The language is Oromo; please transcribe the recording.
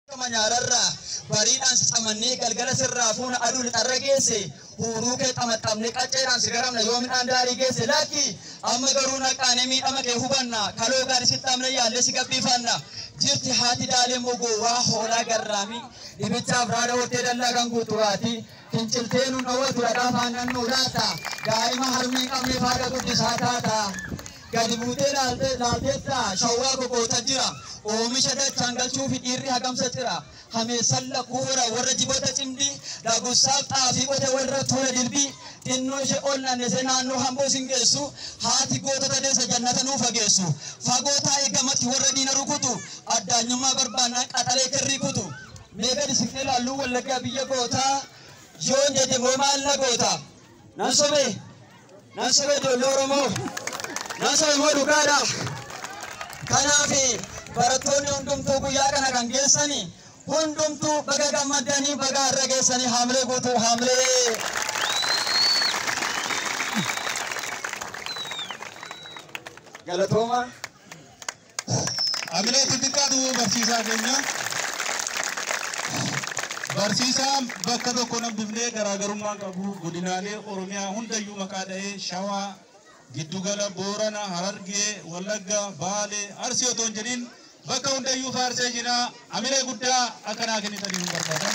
Akkuma nyaararraa bariidhaan si camannee galgala sirraa fuuna aduu lixarra geesse huuruu kee xamaxxamnee qacceedhaan si garamna yoo midhaan daarii geesse lakki amma garuu naqaanee miidhama kee hubanna kaloo gaarii si xamne yaallee si gabbiifanna jirti haati daalee immoo gowwaa hoolaa garraamii dhibichaaf raada hortee dallaa kan guutu raati finciltee nu dhowwatu dhadhaa faannan nu laata daa'ima harmee qabnee faada guddisaa taata. Gadi buutee laalte, laalteettaa? Shawwaa ko goota jira. Oomisha dachaan galchuufi dhiirri hagamsa cira. Hameessan lakkuu hora warra jiboota cimdii. Dagussaaf xaafii qote warra tuula dilbii. Xinnoo ishee ol naannessee naannoo hamboo sin geessu. Haati gootota deessa jannata nuu fageessu. Fagoo taa'ii gamatti warra diina rukutu. Addaanyummaa barbaannaan qaxalee kirrii kutu. Mee gadi siqnee laalluu Wallaggaa biyya gootaa. Yoon jedhe moo maal na goota? Nan sobe, nan sobe ijoollee Oromoo, nan sobe immoo dhugaadha. Kanaaf barattoonni hundumtuu guyyaa kana kan geessani hundumtuu baga gammaddanii baga har'a geessanii haamilee guutuu haamilee. Galatooma. Hamilee itti xiqqaatu barsiisaa keenya. Barsiisaa bakka tokko nambifnee garaagarummaan qabu godinaalee Oromiyaa hundayyuu maqaa dha'ee Shawaa, Giddugala, Boorana, Harargee, Wallagga, Baale, Arsii otoo hin jedhin bakka hundayyuu faarsee jira. Hamilee guddaa akkanaa kennitanii hin barbaadan.